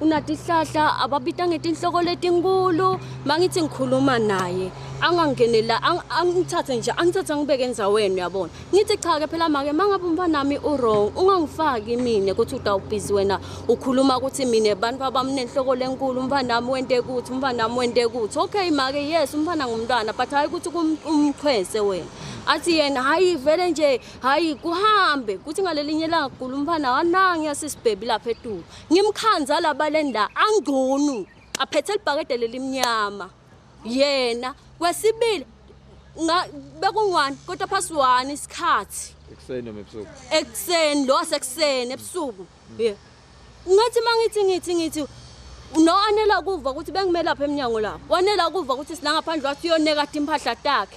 unatihlahla ababita ngetinhloko letinkulu mangithi ngikhuluma naye angangenela angithathe nje angithathe ngibeke endzaweni uyabona ngithi cha ke phela make mangabe umfanami uwrong ungangifaki mina ukuthi utawubhizi wena ukhuluma ukuthi mina abantu abamnenhloko lenkulu umfanami wente kuthi umfanami wente kuthi okay make yes umfana ngumntwana but hhayi ukuthi umchwese wena athi yena hhayi vele nje hhayi kuhambe kuthi ngalelinye langa kugula umfana wanangi yasisibhebi lapha etulu Ngimkhandza labaleni la angcunu aphethe libhakede lelimnyama yena kwesibili nga bekungwani kodwa phasi wani isikhathi ekuseni noma ebusuku ekuseni lo sekuseni ebusuku yeah ngathi mangithi ngithi ngithi no anela kuva ukuthi bengimela lapha eminyango lapho wanela kuva ukuthi silangaphandle wathi uyoneka impahla takhe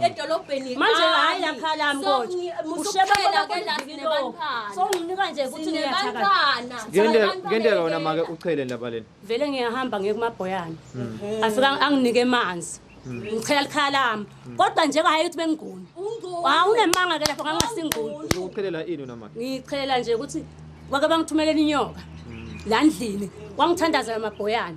edolobheni manje hayi yakhala mkothi ushebela ke la sinebantwana so nginika nje ukuthi ngiyathakala ngende ngende lona make uchele ndaba lena vele ngiyahamba ngiye kumabhoyana hmm. afika anginike amanzi hmm. ngichela likhaya lami hmm. kodwa nje hayi ukuthi bengiguni hawu ah, unemanga ke lapho ngangasinguni uzochelela ini wena manje ngichelela nje ukuthi wake bangithumelela inyoka la ndlini wangithandazela amabhoyana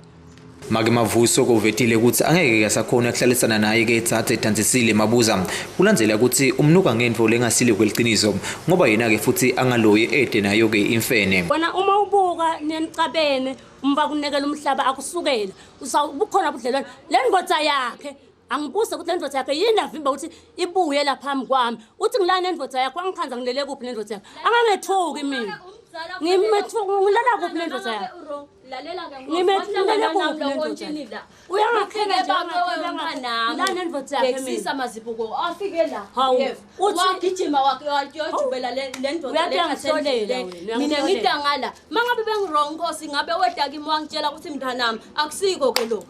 Make Mavuso kovetile ukuthi angeke kasakhona kuhlalisana naye ke thathe edansisile mabuza kulandzela ukuthi umnuka ngento lengasile kweliciniso ngoba yena ke futhi angaloyi ede nayo ke imfene wena uma ubuka nenicabene umba kunekela umhlaba akusukela usawubukhona ubudlelwane lendoda yakhe angibuse ukuthi lendoda yakhe yini avimba ukuthi ibuye la phambi kwami uthi ngilana nendoda yakho angikhanza ngilele kuphi nendoda yakho angangethuki mina ngimethuka ngilala kuphi nendoda yakho lalela ke ngokuhlangana nami lokho ntshini la uyangakhela nje nami ndoda yakhe ngisisa mazibuko afike la yef wagijima wakuyojubela le ndoda le ngaselela mina ngidangala mangabe bengirong nkosi ngabe weta kimi wangitshela ukuthi mntanami akusiko ke lokho